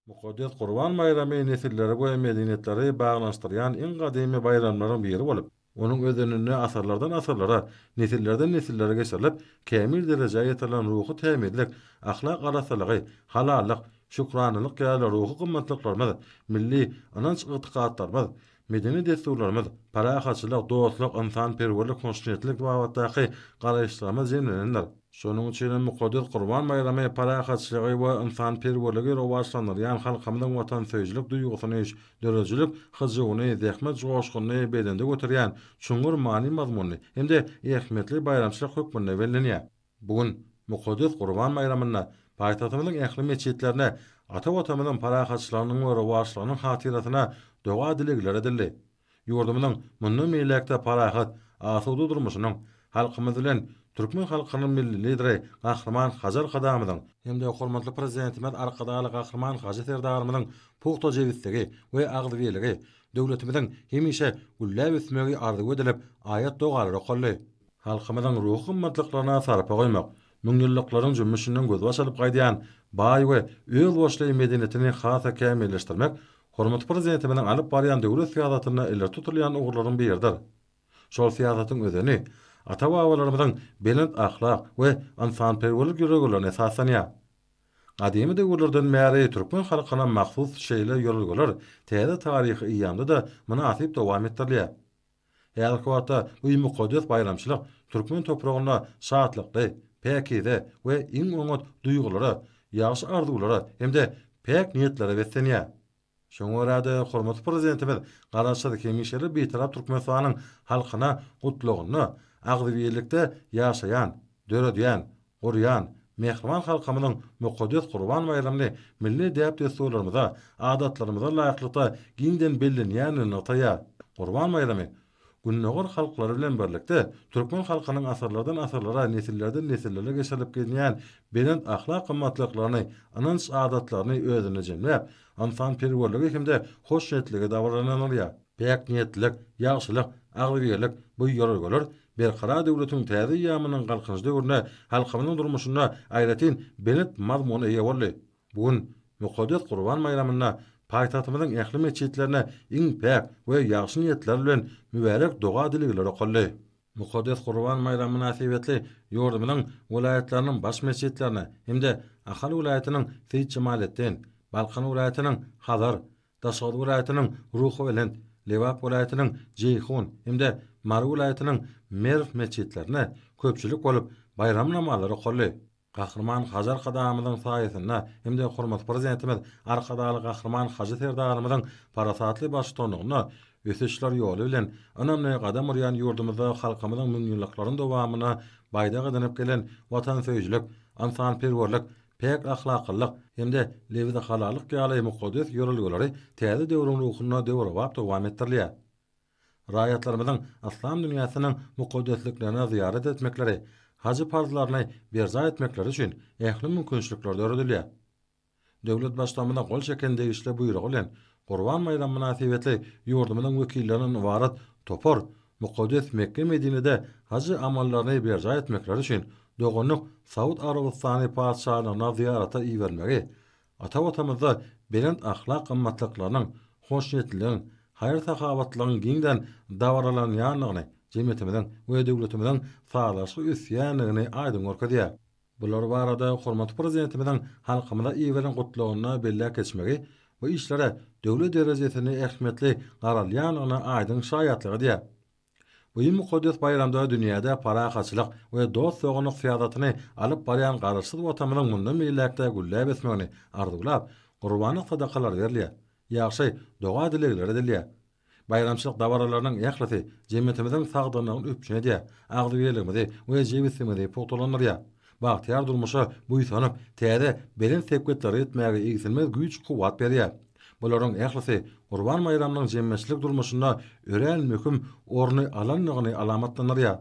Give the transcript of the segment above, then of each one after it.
Mukaddes Gurban baýramy nesilleri we medeniýetleri baglanyşdyrýan iň gadymy baýramlaryň biri bolup, onuň özeninde asyrlardan-asyrlara, nesillerden-nesillere geçirilip, kämil derejä ýetirilen ruhy tämizlik, ahlak arassalygy, halallyk, şükranalyk ýaly ruhy gymmatlyklarymyz, milli ynanç-ygtykatlarymyz, Medeni dessurlarymyz, parahatçylyk, dostluk, ynsanperwerlik, hoşniýetlilik babatdaky garaýyşlarymyz jemlenendir. Şonuň üçin hem mukaddes Gurban baýramy parahatçylygy we ynsanperwerligi rowaçlandyrýan halkymyzyň watansöýüjilik duýgusyny, döredijilik hyjuwyny, zähmet joşgunyny belende göterýän çuňňur many-mazmunly hem-de ähmiýetli baýramçylyk hökmünde bellenýär. Bu gün mukaddes Gurban baýramynda paýtagtymyzyň ähli metjitlerinde ata Watanymyzyň parahatçylygynyň we rowaçlygynyň hatyrasyna doga-dilegler edildi. Ýurdumyzyň mundan beýläk-de parahat, asuda durmuşynyň, halkymyz bilen türkmen halkynyň Milli Lideri Gahryman Hajy Arkadagymyzyň, hem-de hormatly Prezidentimiz Arkadagly Gahryman Hajy Serdarymyzyň pugta jebisligi we agzybirligi, döwletimiziň hemişe gülläp ösmegi arzuw edilip, aýat-dogalar okaldy. Halkymyzyň ruhy gymmatlyklaryna sarpa goýmak, müňýyllyklaryň jümmüşinden gözbaş alyp gaýdýan baý we özboluşly medeniýetini has-da kämilleşdirmek hormatly Prezidentimiziň alyp barýan döwlet syýasatynda ileri tutulýan ugurlaryň biridir. Şol syýasatyň özeni ata-babalarymyzyň belent ahlak we ynsanperwerlik ýörelgelerine esaslanýar. Gadymy döwürlerden bäri türkmen halkyna mahsus şeýle ýörelgeler täze taryhy eýýamda-da mynasyp dowam etdirilýär. Häzirki wagtda bu mukaddes baýramçylyk türkmen topragynda şatlykly, päkize we iň oňat duýgulara, ýagşy arzuwlara hem-de päk niýetlere beslenýär. Şoňa görä-de, hormatly Prezidentimiz Garaşsyz, hemişelik Bitarap Türkmenistanyň halkyna Gutlagynda agzybirlikde ýaşaýan, döredýän, gurýan mähriban halkymyzyň mukaddes Gurban baýramyny milli däp-dessurlarymyza, adatlarymyza laýyklykda giňden bellenýändigini nygtaýar. Gurban baýramy Gündogar halklary bilen birlikde, türkmen halkynyň asyrlardan-asyrlara, nesillerden-nesillere geçirilip gelinýän belent ahlak gymmatlyklaryny, ynanç-adatlaryny özünde jemläp, ynsanperwerligi hem-de hoşniýetligi dabaralandyrýar. Päk niýetlilik, ýagşylyk, agzybirlik, bu ýörelgeler Berkarar döwletiň täze eýýamynyň Galkynyş döwründe halkymyzyň durmuşynda aýratyn belent mazmuna eýe boldy. Bu gün, mukaddes Gurban baýramynda paýtagtymyzyň ähli metjitlerinde iň päk we ýagşy niýetler bilen mübärek doga-dilegler okaldy. Mukaddes Gurban baýramy mynasybetli ýurdumyzyň welaýatlarynyň baş metjitlerinde hem-de Ahal welaýatynyň Seýitjemaletdin, Balkan welaýatynyň Hazar, Daşoguz welaýatynyň Ruhubelent, Lebap welaýatynyň Jeýhun hem-de Mary welaýatynyň Merw metjitlerine köpçülik bolup, baýram namazlary okaldy. Gahryman Hajy Arkadagymyzyň saýasynda hem-de hormatly Prezidentimiz Arkadagly Gahryman Hajy Serdarymyzyň parasatly baştutanlygynda ösüşler ýoly bilen ynamly gadam urýan ýurdumyzda halkymyzyň müňýyllyklaryň dowamynda baýdak edinip gelen watansöýüjilik, ynsanperwerlik, päk ahlaklylyk hem-de lebzi halallyk ýaly mukaddes ýörelgeleri täze döwrüň ruhunda döwrebap dowam etdirilýär. Raýatlarymyzyň yslam dünýäsiniň mukaddesliklerine zyýarat etmekleri, hajy parzlaryny berjaý etmekleri üçin ähli mümkinçilikler döredilýär. Döwlet Baştutanymyza gol çeken degişli buýrugy bilen Gurban baýramy mynasybetli ýurdumyzyň wekillerinden ybarat topar mukaddes Mekge-Medinede haj amallaryny berjaý etmekleri üçin doganlyk Saud Arabystany Patyşalygyna zyýarata ibermegi ata-watanymyzda belent ahlak gymmatlyklarynyň, hoşniýetliligiň, haýyr-sahawatlylygyň giňden dabaralanýandygyny, jemgyýetimiziň we döwletimiziň sazlaşyk ösýändigini aýdyň görkezýär. Bular barada hormatly Prezidentimiziň halkymyza iberýän Gutlagynda belläp geçmegi bu işlere döwlet derejesinde ähmiýetli garalýandygyna aýdyň şaýatlyk edýär. Bu mukaddes baýramda dünýäde parahatçylyk we dost-doganlyk syýasatyny alyp barýan Garaşsyz Watanymyzyň mundan beýläk-de gülläp ösmegini arzuwlap, gurbana sadakalar berilýär, ýagşy doga-dilegler edilýär, Baýramçylyk dabaralarynyň ählisi jemgyýetimiziň sagdynlygyny üpjün edýär, agzybirligimizi we jebisligimizi pugtalandyrýar. Bagtyýar durmuşa buýsanyp, täze, belent sepgitlere ýetmäge egsilmez güýç-kuwwat berýär. Bularyň ählisi Gurban baýramynyň jemgyýetçilik durmuşynda örän möhüm orny alandygyny alamatlandyrýar.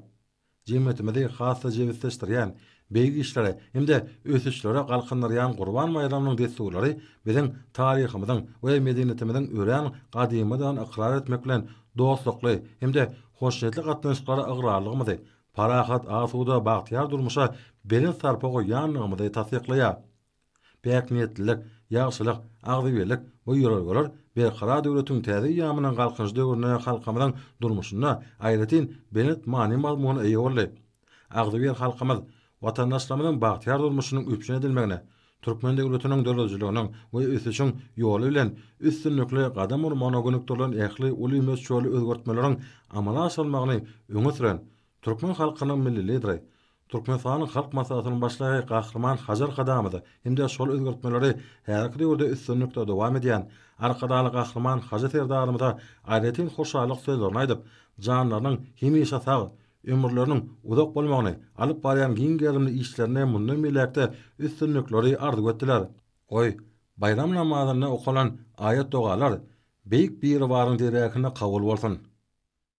Jemgyýetimizi has-da jebisleşdirýän, beýik işlere hem-de ösüşlere galkyndyrýan Gurban baýramynyň dessurlary biziň taryhymyzyň we medeniýetimiziň örän gadymydygyny ykrar etmek bilen, dostlukly hem-de hoşniýetli gatnaşyklara ygrarlygymyzy, parahat, asuda, bagtyýar durmuşa belent sarpa goýýandygymyzy tassyklaýar. Päkniýetlilik, ýagşylyk, agzybirlik bu ýörelgeler Berkarar döwletiň täze eýýamynyň Galkynyş döwründe halkymyzyň durmuşynda aýratyn belent many-mazmuna eýe boldy. Agzybir halkymyz watandaşlarymyzyň bagtyýar durmuşynyň üpjün edilmegine, türkmen döwletiniň döredijiliginiň we ösüşiň ýoly bilen üstünlikli gadam urmagyna gönükdirilen ähli uly möçberli özgertmeleriň amala aşyrylmagyny öňe süren türkmen halkynyň Milli Lideri, Türkmenistanyň Halk Maslahatynyň Başlygy Gahryman Hajar Kadamowa hem-de şol özgertmeleri häzirki döwürde üstünlikli dowam edýän Arkadagly Gahryman Hajy Serdarymyza aýratyn hoşallyk sözlerini aýdyp, janlarynyň hemişe sag, ömürleriniň uzak bolmagyny, alyp barýan giň gerimli işlerinde mundan beýläk-de üstünlikleri arzuw etdiler. Goý, baýram namazynda okalan aýat-dogalar Beýik Biribaryň dergähinde kabul bolsun!